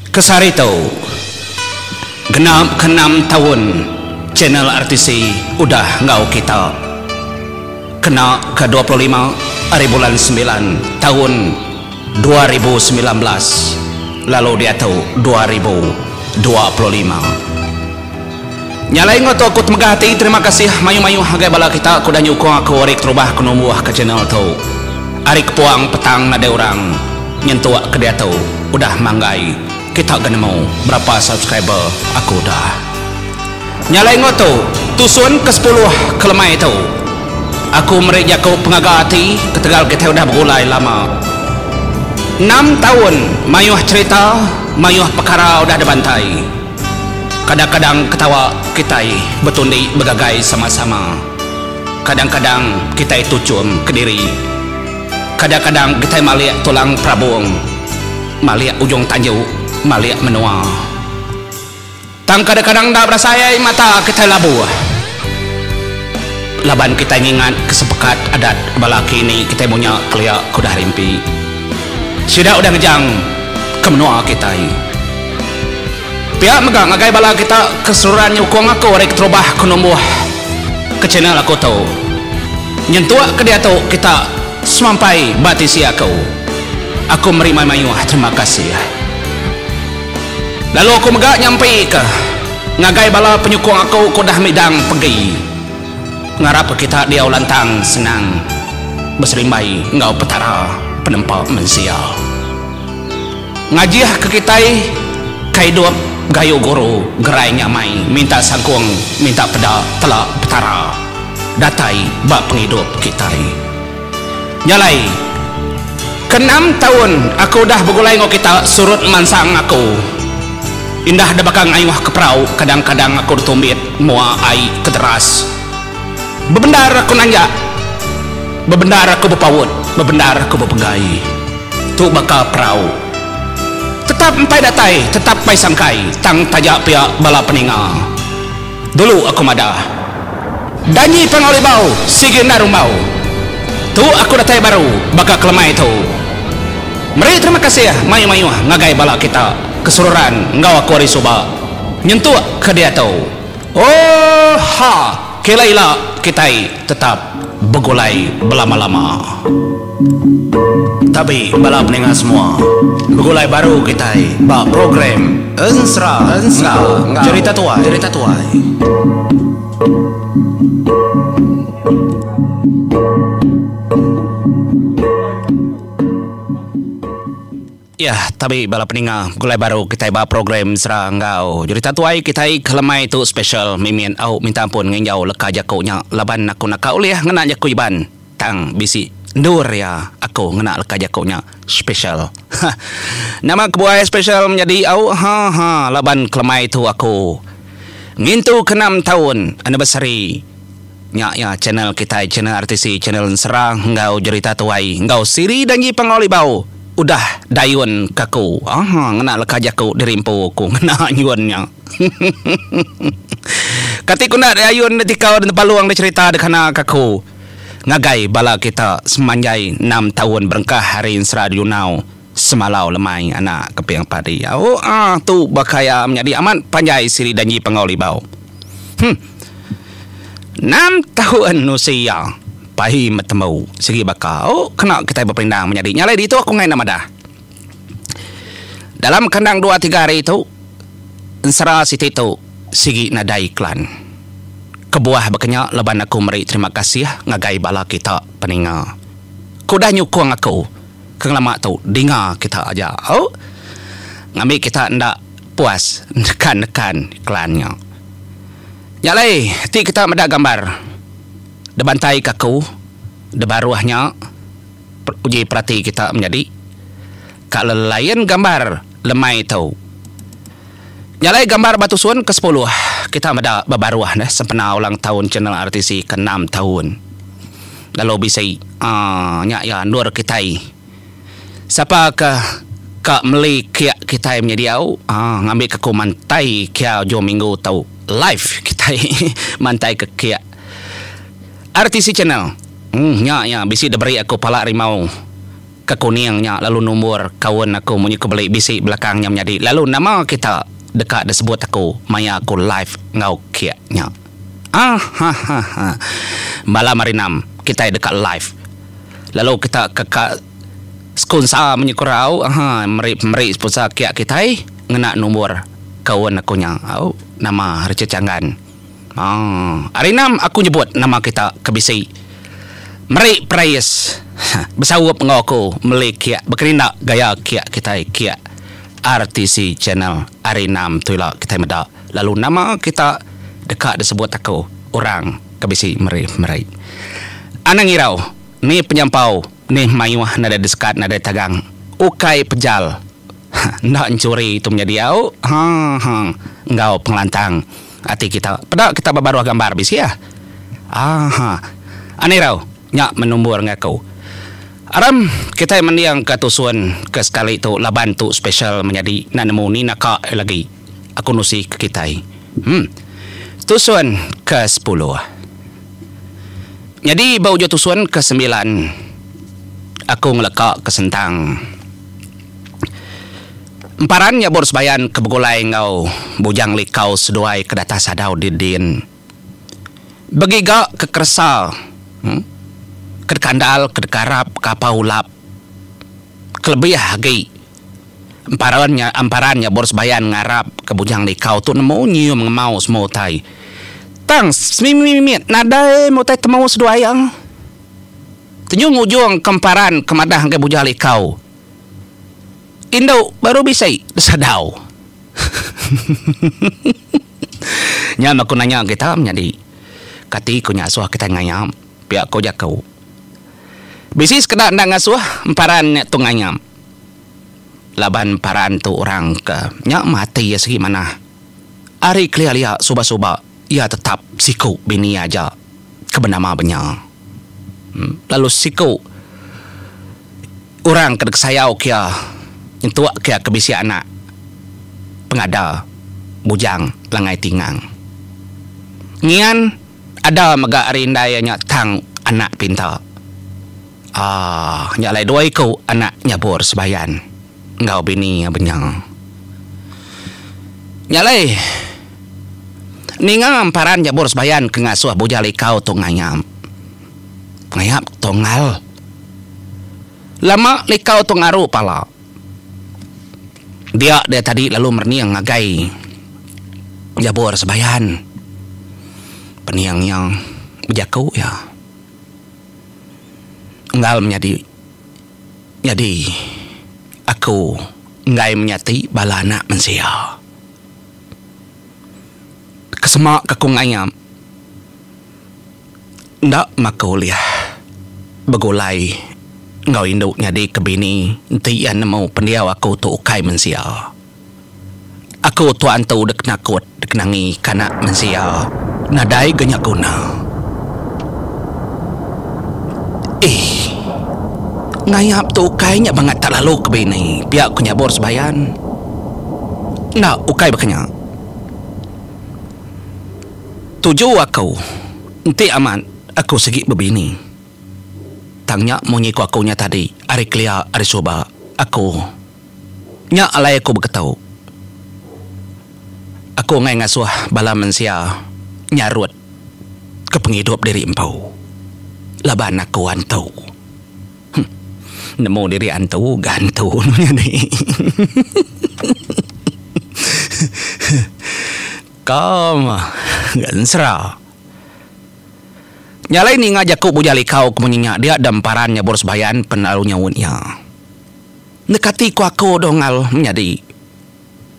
Kesari tu, genap ke enam taun channel RTC udah enggau kita. Kena ke dua puluh lima ari bulan sembilan taun dua ribu semilan belas lalu diatu dua ribu dua puluh lima. Nya alai enggau tu aku temegah ati terima kasih mayuh mayuh ngagai bala kita ke udah nyukung aku ari keterubah aku numbuh ka channel tu. Ari kepuang petang nadai orang nyentuk ke diatu udah manggai kita ga nemu berapa subscriber aku udah. Nya alai enggau tu tusun ke sepuluh ke lemai tu aku meri jaku pengaga ati ketegal kitai udah begulai lama. Enam taun mayuh cherita mayuh pekara udah dibantai. Kadang-kadang ketawa kitai betundi begagai sama-sama. Kadang-kadang kitai tuchum kediri. Kadang-kadang kitai malik tulang perabung, malik ujung tanju, malik menua. Tang kadang-kadang enda berasai ai mata kitai labuh. Laban kitai ngingat ke sepekat adat bala kini kitai munya kelia ke udah rimpi. Sida udah ngejang ke menua kitai. Pia mega ngagai bala kita ke seruran nyukung aku ari keterubah ke numbuh ke channel aku tu. Nyentuk ke diatu kita semampai ba tisi aku. Aku meri mayuh-mayuh terima kasih. Lalu aku mega nyampika ngagai bala penyukung aku ke udah midang pegi. Ngarap kita diau lantang senang beserimbai enggau Petara penempa mensia. Ngajihka kitai ke idup gayu guru gerai nyamai minta sangkung minta peda telak Petara datai ba pengidup kitai. Nya alai, ke enam taun aku udah begulai enggau kita surut mansang aku. Indah da baka ngayuh ke perau, kadang-kadang aku ditumbit mua ai ke deras. Bebendar aku nanjak, bebendar aku bepaut, bebendar aku bepegai. Tu baka perau. Tetap empai datai, tetap empai sangkai, tang taja pia bala peninga. Dulu aku madah. Danyi pengau libau sigi enda rumbau. Tu aku datai baru baka ke lemai tu. Meri terima kasih mayuh-mayuh ngagai bala kita ke seruran enggau aku ari suba nyentuk ke diatu. Ooh ha kila ila kitai. tetap begulai belama-lama. Tabi bala peninga semua, begulai baru kitai ba program Ensera enggau Cherita Tuai. Yah tabi bala peninga begulai baru kitai ba program Sera enggau Jurita Tuai kitai ke lemai tu special mimin au minta ampun nginjau leka jaku nya laban aku naka ulih ngena jaku Iban tang bisi endur iya aku ngena leka jaku nya special ha nama kebuai special menyadi au ha ha laban ke lemai tu aku ngintu ke enam taun anniversary Nya iya channel kitai channel RTC channel ensera enggau jerita tuai enggau siri janji pengawa libau udah dayun ke aku haa ngena leka jaku diri empu aku ngena nyun nya hehehe kati ku enda dayun da tikau da nepalung da cherita da kana ke aku ngagai bala kita semanjai enam taun berengkah ari ensera diunau. Semalau lemai anak keping padi au ah tu baka iya menyadi amat panjai siri danji pangau libau. Huh. Enam taun usi iya pai metembu sigi baka au kena kitai bependang menyadi nya alai ditu aku enggai enda madah. Dalam kandang dua tiga hari tu ensera siti tu sigi nadai iklan. Kebuah baka nya laban aku meri terima kasih ngagai bala kita peninga. Ku udah nyukung aku Ke ngelama tu dinga kita aja oh ngambi kita enda puas nekan nekan iklan nya. Nya alai ti kita meda gambar debantai ke aku debaruh nya uji perati kita menyadi ka lelain gambar lemai tu. Nya alai gambar ba tusun ke sepuluh kita meda bebaruh sempena ulang taun channel RTC ke enam taun. Lalu bisi aaa nya iya endur kitai. Sapa ke ka meli kiak kitai menyadi au aaa ngambi ke aku mantai kia ujung minggu tu live kitai mantai ke kiak RTC channel uhh nya iya bisi diberi aku pala rimau ke kuning nya lalu numbur kaun aku munyi ku beli bisi belakang nya menyadi lalu nama kita deka disebut aku maya aku live enggau kiak nya. Ahahaha. Malam hari enam kitai deka live lalu kita ke ka skonsa menyukurau ahaa meri meri sponsa kiak kitai ngena nombor kaun aku nya au nama Richard Changan. Haa hari enam aku nyebut nama kita ke bisi meri prais heh besaup enggau aku meli kiak bekerinda gaya kiak kitai kiak RTC channel hari enam tu ila kitai meda. Lalu nama kita deka disebut aku orang ke bisi meri-meri? Anang irau, ni penyampau nih mayuh nadai disekat nadai tagang ukai pejal enda enchuri tu menyadi au ha-ha enggau pengelantang ati kita. Peda kita ba baruh gambar bisi ah ha-ha anang irau nya menumbur ngaku. Aram kitai mending ka tusun ke sekali tu laban tu special menyadi enda nemu ni naka lagi. Aku nusi ke kitai. Em. Tusun ke sepuluh. Nyadi ba ujung tusun ke sembilan aku ngeleka ke sentang. Emparan nya bur sebayan ke begulai enggau Bujang Likau seduai ke data sadau di din. Begiga ke keresa. Em. Ke dekandal ke dekarap ke apau ulap kelebih agi. Emparan nya emparan nya Boris Bayan ngarapka Bujang Likau tu nemu nyium ngemau semua utai. Tang semimit-mimit nadai meh utai temu seduai iya. Tenyung ujungka emparan ke madah ngagai Bujang Likau, Indu baru bisi besadau. Nya meh ku nanya kita menyadi. Kati ku nya asuh kitai ngayap? Pia ku jaku. Bisi sekeda enda ngasuh emparan nya tu ngayap. Laban para antu orang ke nya mati iya sigi manah. Ari kelia-lia suba-suba iya tetap siku bini aja ke benama benya. Lalu siku orang ke dikesayau kiya nyentuk kiya ke bisi anak pengada bujang langai tingang. Ngian. Ada mega ari indai iya nya tang anak pinta. Aaa nya alai dua iku anak nyabur sebayan enggau bini iya benya. Nya alai ninga emparan nyabur sebayan ke ngasuh bujal ikau tu ngayap. Ngayap tunggal. Lama likau tu ngaru pala. dia dia tadi lalu merening ngagai jabur sebayan pening iya bejaku iya enggal menyadi nyadi aku enggai menyati bala anak mensia kesema ke ku ngaim enda maka ulih begulai enggau indu nyadi ke bini enti iya nemu pendiau aku tu ukai mensia. Aku tu antu dikena kut dikena ngi kana mensia nadai ga nya guna. Ih. Ngayap tu ukai nya bangat tak lalu ke bini pia ku nyabur sebayan. Enda ukai baka nya. Tuju aku, enti amat aku sigi bebini. Tang nya munyi ku aku nya tadi ari kelia ari suba aku. Nya alai aku beketu. Aku enggai ngasuh bala mensia nyarut ke pengidup diri empu laban aku antu. Huh. Nemu diri antu ga antu nya nyadi. Huh. Kam ensera. Nya alai ninga jaku Bujang Likau ke munyi nya dia dem paran nyabur sebayan pen lalu nyaut iya. Enda kati ku aku doh ngal menyadi.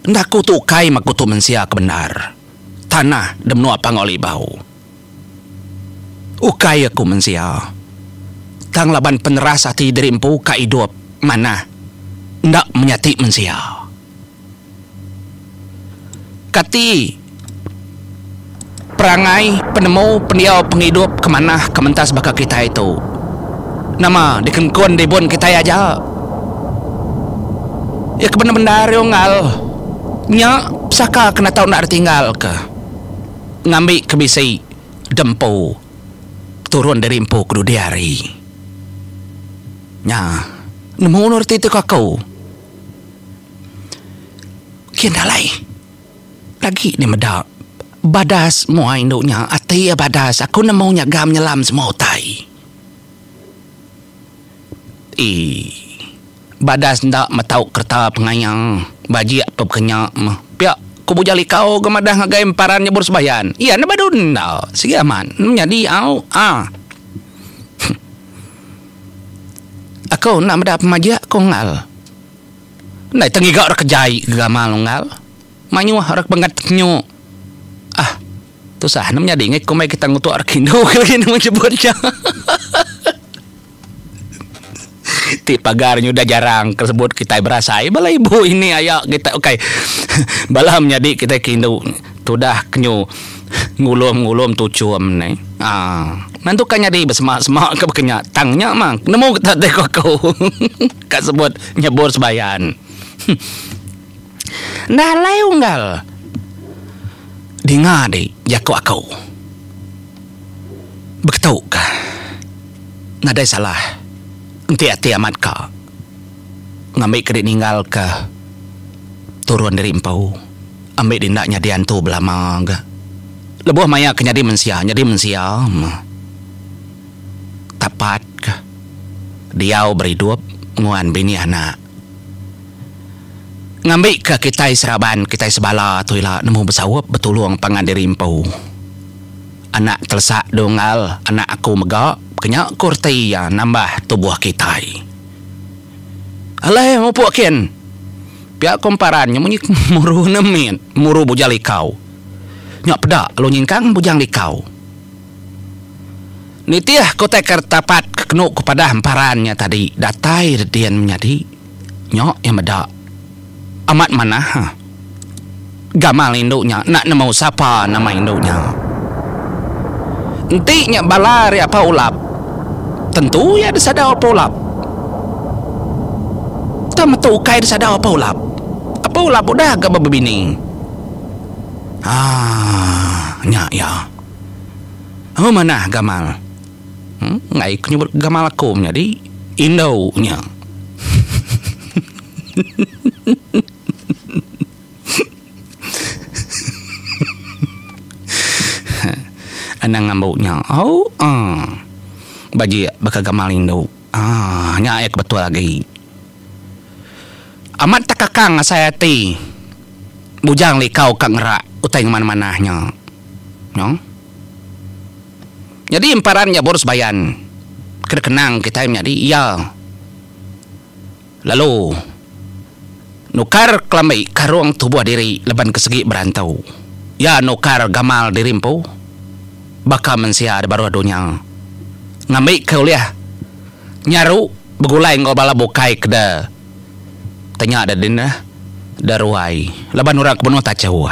Enda aku tu ukai makutu mensia ke bendar. Tanah de menua Pango Libau. Ukai aku mensia. Tang laban peneras ati diri empu ka idup manah enda menyati mensia. Kati perangai, penemu, pendiau, pengidup ke manah ke mentas baka kitai tu? Nama dikengkun ribun kitai aja? Iya ke bendar-bendar iya unggal nya pesaka ke enda tau ditinggalka ngambi ke bisi da empu turun dari empu ke dudi hari. Nya nemu reti ti ku aku. Kian alai agi nya meda badas mua indu nya ati iya badas aku nemu nyagam nyelam semua utai ee badas enda metau kereta pengaya bajik tu ke nya pia ku buja likau ke madah ngagai emparan nyebur sembayan iya ne baru enda sigi amat nyadi au a. Aku enda meda pemajak ku Engal. Ndai tau ngiga orang ke jai ke gamal lalu Engal. Mayuh orang ke penggat penyu. Ah, tusah enda menyadi ngei komai kita ngutuk orang ke indu ke lagi nemu nyebut iya. Ti pagar nya udah jarang ke sebut kitai berasai bala ibu ini aya kita ukai bala menyadi kitai ke indu. Tudah kenyu ngulum-ngulum tuchum ne. Aa. Nantu ka nyadi besemak-semak ka baka nya tang nya mang. Nemu kita ti ko aku. Ka sebut nyebur sebayan. Enda alai unggal dinga di jako aku. Beketu ka. Nadai salah enti ati amat ka ngambi ke di ninggal ka turun diri empu. ambi dinda nyadi antu belama ga lebuh maya ke nyadi mensia nyadi mensia meh tapat ka diau beridup nguan bini anak ngambi ka kitai seraban kitai sebala tu ila nemu besaup betulung pangan diri empu anak telesak dua engal anak aku mega kenya ku reti iya nambah tubuh kitai alai mupuk kin. Pia kumparan nya munyi muru enam min muru bujang likau. Nya peda lalu nyingkang bujang likau. Nitih ku taker tapat ke kenu ku padah emparan nya tadi datai redin menyadi. Nya iya meda. Amat manah. Gamal indu nya enda nemu sapa nama indu nya. Enti nya bala ari Apa Ulap, tentu iya disadau Apa Ulap. Tang metu ukai disadau Apa Ulap. Apa Ulap udah ga bebebini. Haa, nya iya. Hu manah Gamal. Huh, enggai ku nyebut Gamal aku menyadi indu nya. Anang ngambu nya. Au aaa. Bajik baka gamal indu. Aaa. Nya ae ke betul agi. Amat tekakang asai ati. Bujang likau ka ngerak utai ngemanah-manah nya. Noh. Nyadi emparan nya Borus Bayan. Kada kenang kitai menyadi iya. Lalu, nukar kelambi karung tubuh diri laban ke segi berantu. Iya nukar gamal diri empu baka mensia di baruh dunya ngambika ulih nyaru begulai enggau bala bukai ke da tanya da dina da ruai laban orang ke benung tachu.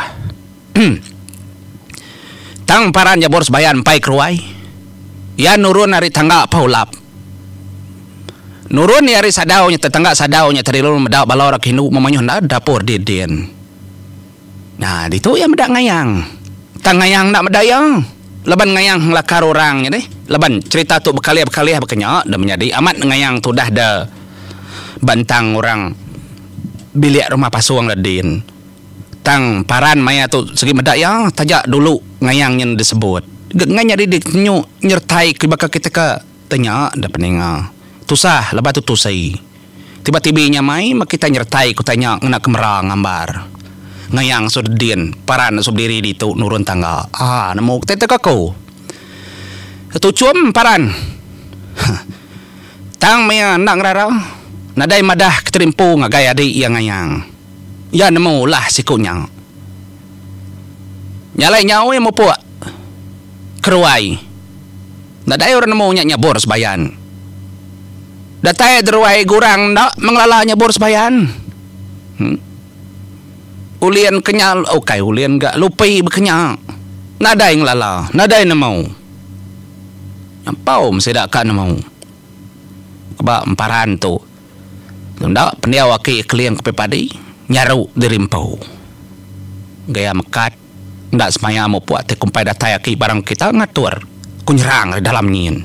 Tang paran Jabur Sebayan empai ke ruai, iya nurun ari tangga pau lap. Nurun iya ari sadau nya tetangga sadau nya tadi lalu meda bala orang Hindu memayuh enda dapur didin. Nya ditu iya meda ngayang. Tang ngayang enda meda iya laban ngayang ngelakar orang nya deh. Laban cherita tu bekalih-bekalih baka nya dah menyadi amat ngayang tudah da ba entang orang bilik rumah pasung da din. Tang paran maya tu sigi meda iya taja dulu ngayang nyin disebut. Ga ngai nyadi dikenyu nyertai ke baka kita ka te nya da peninga. Tusah laban tu tusi. Tiba tibi nya mai meh kita nyertai ke utai nya ngena kamera ngambar. Ngayang su da din paran da su bediri ditu nurun tangga. Haa nemu kita te ka ku Datu Chum paran. Huh. Tang maya enda ngerara nadai madah kita di empu ngagai adi iya ngayang. Iya nemu ulah siku nya. Nya alai nyaui mupuk keruai. Nadai orang nemu nya nyabur sebayan. Datai deruai gurang enda mengelala nyabur sebayan. Em. Ulin ke nya, ukai ulin ga, lupi ba ke nya. Nadai ngelala, nadai nemu. Nyampau sida ka nemu. Ba emparan tu. Enda pendiau aki keling ke padi nyaru diri empu. Gaya mekat enda semaya mupuk ti kumpai datai aki barang kita ngatur ku nyerang ari dalam nyin.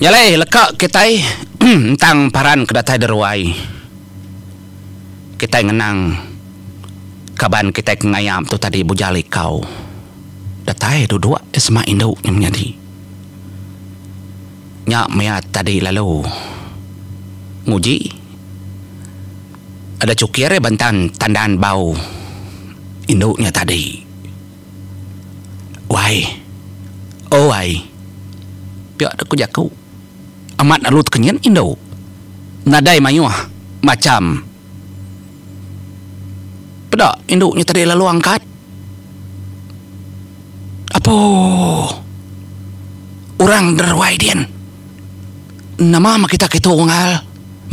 Nya alai leka kitai entang paran ke datai de ruai kitai ngenang kaban kitai ke ngayap tu tadi Bujal Ikau. Datai duduk sema indu nya menyadi. Nya maya tadi lalu. Nguji. Ada cukir iya bentan tandan bau indu nya tadi. Wai. Oh ai. Pia dek ku jaku. Amat lalu tekenyit indu. Nadai mayuh macham. Peda indu nya tadi lalu angkat apu orang deruai din nama mah kita kitu ngal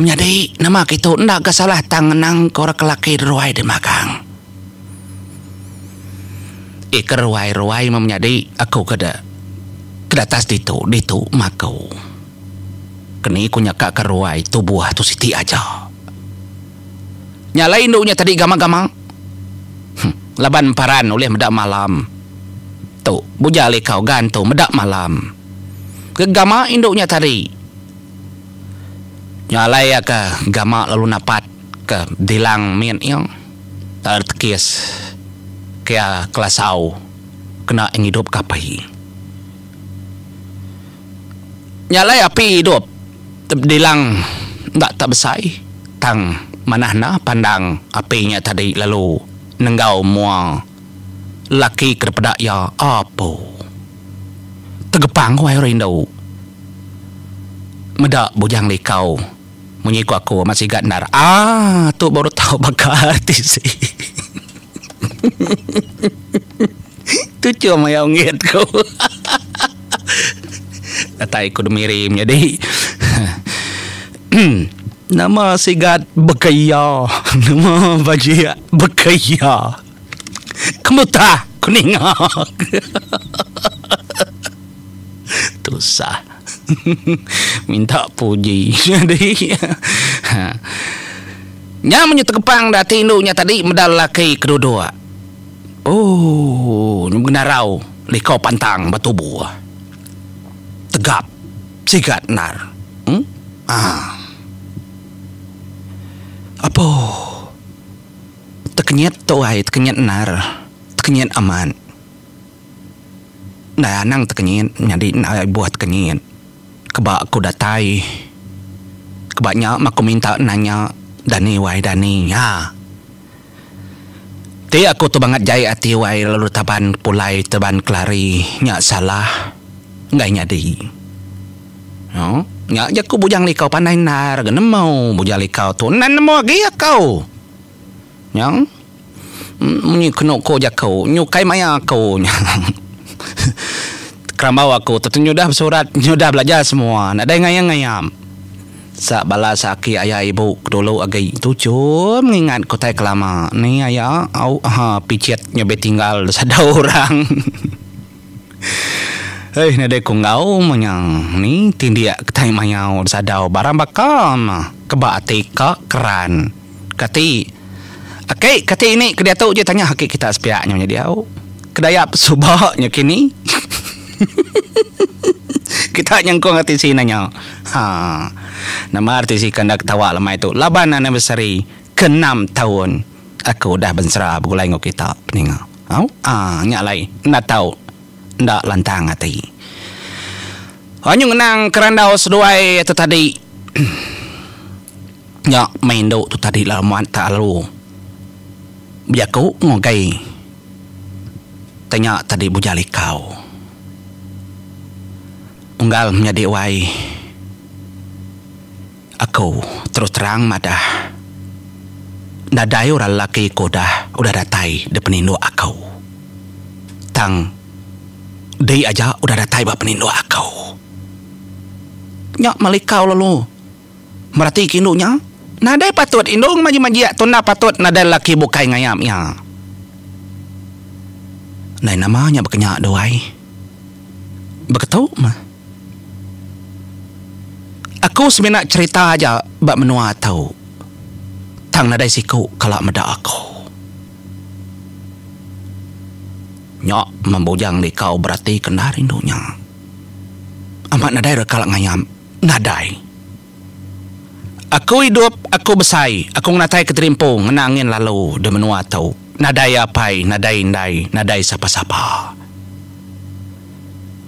menyadi nama kitu enda ga salah tang ngenang ke orang ke laki deruai di magang ih ke ruai ruai mah menyadi aku ke da ke datas ditu ditu mah aku. Keni ku nya ka keruai tubuh tu siti aja. Nya alai indu nya tadi gamang-gamang. Huh laban emparan ulih meda malam. Tu bujal likau gan tu meda malam. Gegama indu nya tadi. Nya alai iya ke gama lalu napat ke dilang mit iya. Taler tekis ke iya kelasau kena ngidup ke apai. nyalai api idup tebedilang enda tak besai tang manah enda pandang api nya tadi lalu nenggau mua lelaki ke dipeda iya apu tegepang wai rindu meda bujang likau. Munyi ku aku amat sigat endar. Aaa tu baru tau baka artis hehehe tu chum aya ungit ku hahaha datai ku Demiri menyadi emm nama sigat baka iya nama bajik baka iya. Kemutah ku ninga. Tusah. Minta puji nyadi. Ha. Nya munyi tegepang da ati indu nya tadi meda lelaki ke duduk. Ooh nya benarau liko pantang betubuh. Tegap sigat endar. Em. Haa. Apoh. Tekenyit tu ai tekenyit endar tekenyit amat ndai anang tekenyit nyadi enda ibuh tekenyit keba ku datai keba nya meh ku minta nanya dani wai dani nya ti aku tu bangat jai ati wai lalu taban pulai taban kelari nya salah enggai nyadi. Nya jaku bujang liko pandai endar ga nemu bujang liko tu endar nemu agi ako nya munyi keno ko jako nyukai maya ako nya kerambau ako tu nyudah besurat nyudah belajar semua nadai ngayam ngayam sa bala sa aki aya ibu dulu agi tu jum ngingat ko tai kelama ni aya au ha picit nyau be tinggal sado orang. Hei nadai ku enggau manyang ni tindik kitai mayau disadau barang baka meh keba ati ka keran kati aki kati ni ke diatu ji tanya aki kita sepiak nyau nya diau kedaya pesuba nya kini kita nyengkong ati si ina nya ha nama reti si ke enda ketawa lemai tu laban anniversary ke enam taun aku udah bensera begulai enggau kita peninga. Au aaa nya alai enda tau enda lantang ati. Au nyu ngenang ke randau seduai tu tadi. Nya meh indu tu tadi lalu muat tak lalu bejaku ngugai tanya tadi buja likau. Unggal menyadi wai. Aku terus terang madah nadai orang lelaki ke udah udah datai di peninduk aku. Tang diri aja udah datai ba peninduk aku. Nya Malikau lalu meratika indu nya. Nadai patut indu ngemajik-majik tu enda patut nadai lelaki bukai ngayap iya. Ndai nama nya baka nya doi. Baka tu meh. Aku semina cherita aja ba menua tu tang nadai siku kala meda aku. Nya meh bujang likau berati ke enda rindu nya. Amat nadai re kala ngayam nadai. Aku idup, aku besai, aku ngenatai keterimpu ngena angin lalu di menua tu. Nadai apai, nadai indai, nadai sapa-sapa.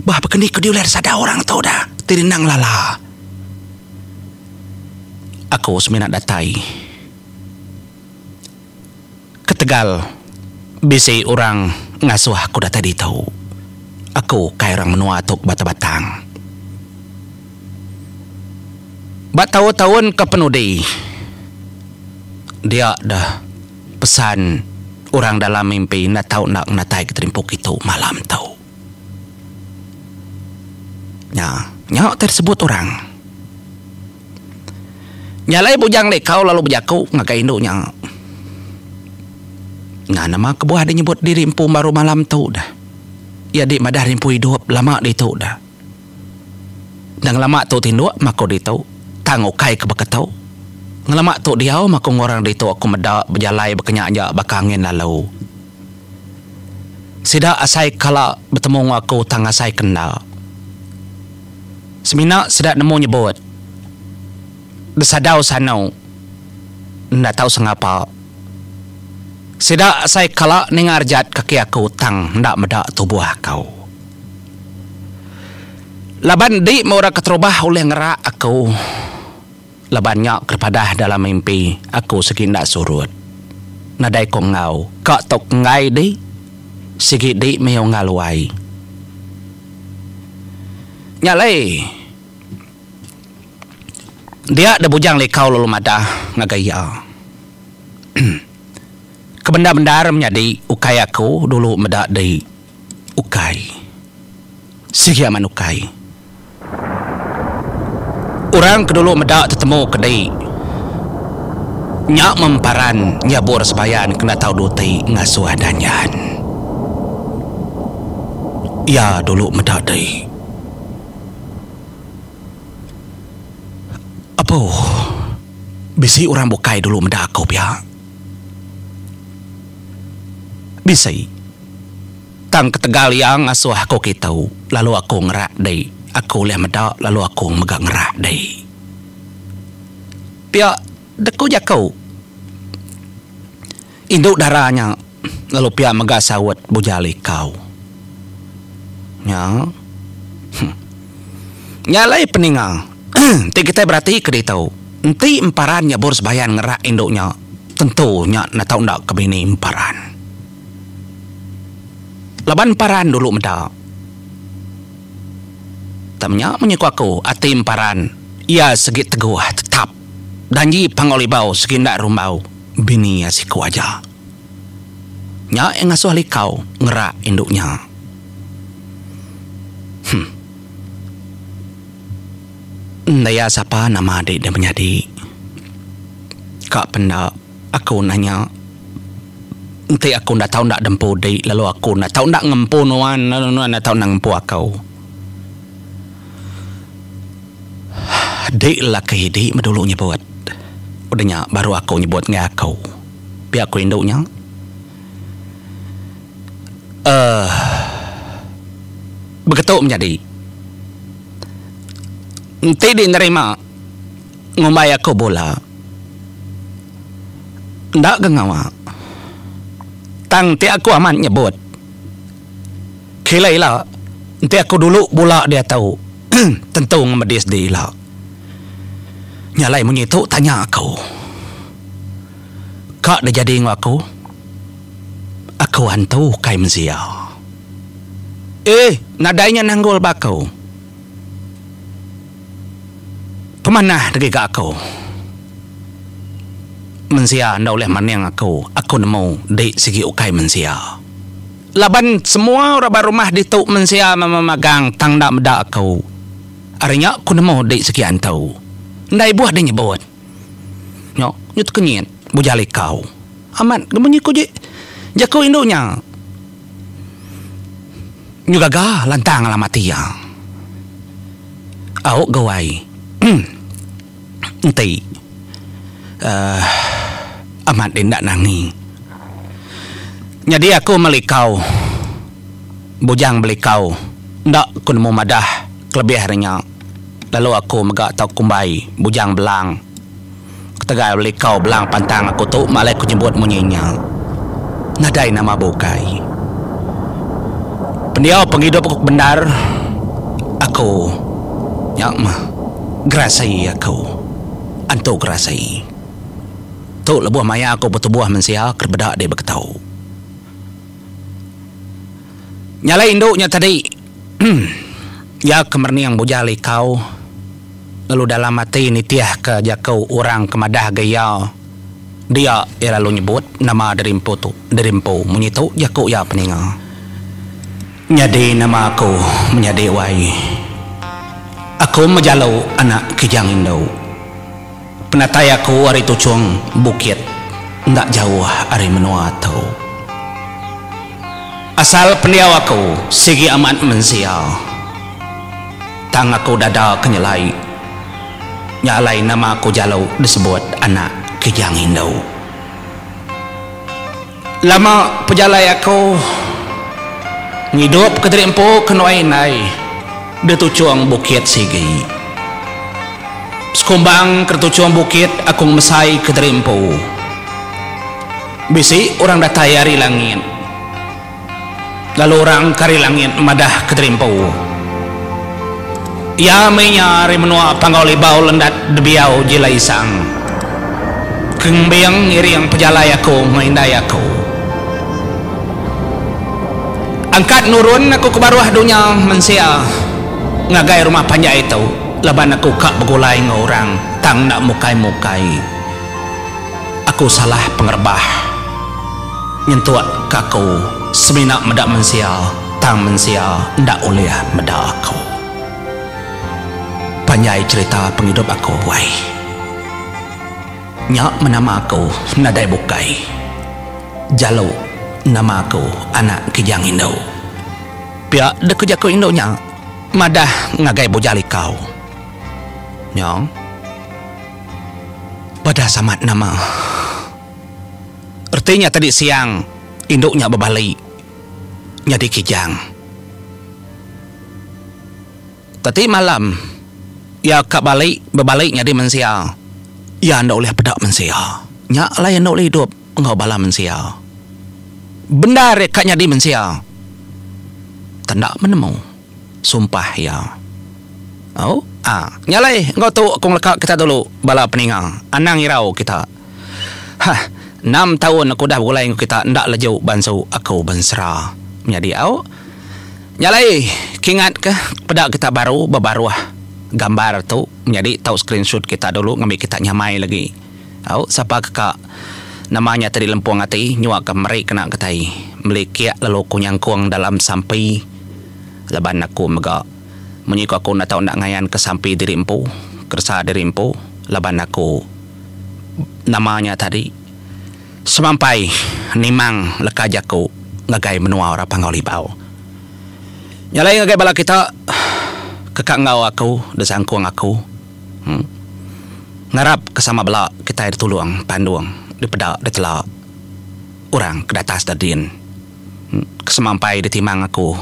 Bah bekeni ku diuler sada orang tu dah, ti rindang lala. Aku semina datai. Ketegal bisi orang ngasuh aku datai ditu, aku kai orang menua tu ke batang-batang. Ba taun-taun ke penudi, dia deh pesan orang dalam mimpi enda tau enda menatai geterimpu kitu malam tu. Nya, nya utai disebut orang. Nya alai bujang Lekau lalu bejaku ngagai indu nya, Nya nama kebuah deh nyebut diri empu baru malam tu dah. Iya dih madah diri empu idup lama ditu dah. Enda ngelama tu tinduk maku ditu, tang ukai ke baka tu. Ngelama tu diau maku enggau orang ditu aku meda bejalai baka nya aja baka angin lalu. Sida asai kala betemu enggau aku tang asai ke enda. Semina sida nemu nyebut, besadau sanu enda tau sengapa. Sida asai kala ninga rejat kaki aku tang enda meda tubuh aku. Laban di meh orang keterubah ulih ngerak aku. Laban nya ke padah dalam mimpi aku sigi enda surut. Nadai ko enggau ka tok enggai di sigi di miow ngaluai. Nya alai dia da bujang likau lalu madah ngagai iya. Ke bendar-bendar menyadi ukai aku dulu meda di. ukai. Sigi amat ukai. Orang ke dulu meda tetemu ke dei nya meh memparan nyabur sembayan kena tau duti ngasuh danjan. Iya dulu meda dei. Apuh. Bisi orang bukai dulu meda aku pia. Bisi. Tang ketegal iya ngasuh aku kitu lalu aku ngerak dei. Aku ulih meda lalu aku mega ngerak dei. Pia dek ku jaku indu dara nya lalu pia mega saut Bujal Ikau. Nya. Huh. Nya alai peninga. Enti kitai beratika ditu, enti emparan nyebur sebayan ngerak indu nya, tentu nya netau enda ke bini emparan. Laban emparan dulu meda. Tang menya menyuku aku, ati emparan iya segi teguh tetap danji pangau libau segi enda rumbau bini iya siku aja. Nya iya ngasuh likau ngerak indu nya. Huh. Daya sapa nama adi da menyadi. Ka penda aku nanya enti aku enda tau enda dempu di lalu aku enda tau enda ngempu nuan lalu nuan enda tau enda ngempu aku. Di lelaki di meh dulu nyebut udah nya baru aku nyebut ngagai aku. Pia aku indu nya uhh. Beketu menyadi. Enti di nerima ngumbai aku bula enda ke ngawa tang ti aku amat nyebut kila ila enti aku dulu bula diatu tentu ngemedi sedi ila. Nya alai munyi tu tanya aku ka dijadi enggau aku. Aku antu ukai mezia. Eeh nadai nya nanggul ba aku. Pemanah degi ga aku. Menzia enda ulih maning aku, aku nemu di sigi ukai menzia. Laban semua orang ba rumah ditu menzia mama magang tang enda meda aku. Ari nya aku nemu di sigi antu. Enda ibuh di nyebut. Nya, nya tekenyit bujal ikau. Amat, gemunyi ku ji jaku indu nya. Nyu gaga lantang alamat iya. Au ga wai. Enti. Uhh. Amat deh enda nangi. Nyadi aku meli ikau. Bujang beli ikau. Enda ku nemu madah kelebih ari nya. Lalu aku mega tau kumbai Bujang Belang. Ketegal belikau Belang pantang aku tu ma alai ku nyebut munyi nya. Nadai nama bukai. Pendiau pengidup aku kebendar aku nya mah gerasi aku. Antu gerasi. Tu lebuh maya aku betubuh mensia ke dibeda di Beketau. Nyalai indu nya tadi. Iya ke merening bujal likau, lalu dalam ati nitihka jaku orang ke madah ga iya. Dia iya lalu nyebut nama Derimpu tu Derimpu, munyi tu jaku iya peninga. Nyadi nama aku menyadi Wai. Aku mejalu anak kijang indu. Penatai aku ari tuchung bukit enda jauh ari menua tu. Asal pendiau aku sigi amat mensia, tang aku dada ke nyelai. Nya alai nama aku jalu disebut anak Kijang Indu. Lama pejalai aku ngidup ke diri empu ke nuai indai di tuchung bukit sigi. Sekumbang ke di tuchung bukit aku ngemesai ke diri empu. Bisi orang datai ari langit. Lalu orang ke ari langit madah ke diri empu, Iya meh nya ari menua Panggau Libau lendat Debiau jila isang, ke ngembing ngiring pejalai aku enggau indai aku, angkat nurun aku ke baruh dunya mensia ngagai rumah panjai tu, laban aku ka begulai enggau orang tang enda mukai-mukai aku salah pengerebah. Nyentuk ke aku semina meda mensia tang mensia enda ulih meda aku. Panjai cherita pengidup aku buai. Nya menama aku nadai bukai. Jalu nama aku anak kijang indu. Pia dek ku jaku indu nya madah ngagai bujal ikau. Nyong. Padah samat nama. Reti nya tadi siang indu nya bebali nyadi kijang. Teti malam iya ka bali bebali nyadi mensia, iya enda ulih peda mensia. Nya alai iya enda ulih idup enggau bala mensia. Bendar iya ka nyadi mensia tenda penemu. sumpah iya. Au, a. Nya alai enggau tu aku ngeleka kita dulu bala peninga. Anang irau kita. Hah, enam taun aku udah begulai enggau kita enda leju bansu aku bensera. Menyadi au. Nya alai ke ingat ke peda kita baru bebaruh gambar tu menyadi tau screenshot kita dulu ngambi kita nyamai lagi. Au, sapa ke ka nama nya tadi lempung ati nyua ke meri kena kitai meli kiak lalu ku nyangkung dalam sampi laban aku mega munyi ku aku enda tau enda ngayan ke sampi diri empu keresa diri empu laban aku nama nya tadi semampai nimang leka jaku ngagai menua orang Panggau Libau. Nya alai ngagai bala kita ke ka enggau aku da sangkung aku. Ngarap ke sama bela kitai ditulung pandung dipeda ditela orang ke datas da din ke semampai ditimang aku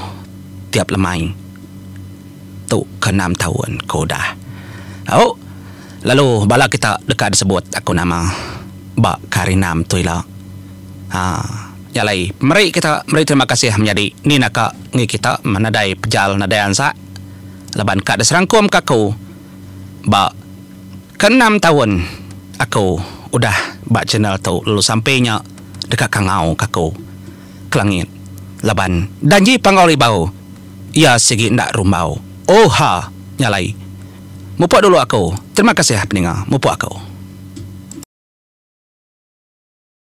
tiap lemai tu ke enam taun ke udah au lalu bala kita deka disebut aku nama ba ke hari enam tu ila nya alai meri kita meri terima kasih menyadi ni naka enggei kita nadai pejal nadai ansak. laban ka diserangkum ka aku ba ke enam taun aku udah ba channel tu lalu sampi nya deka kangau ka aku ke langit laban danji panggau ribau iya sigi enda rumbau oh ha nya alai mupuk dulu aku terima kasih peninga mupuk aku.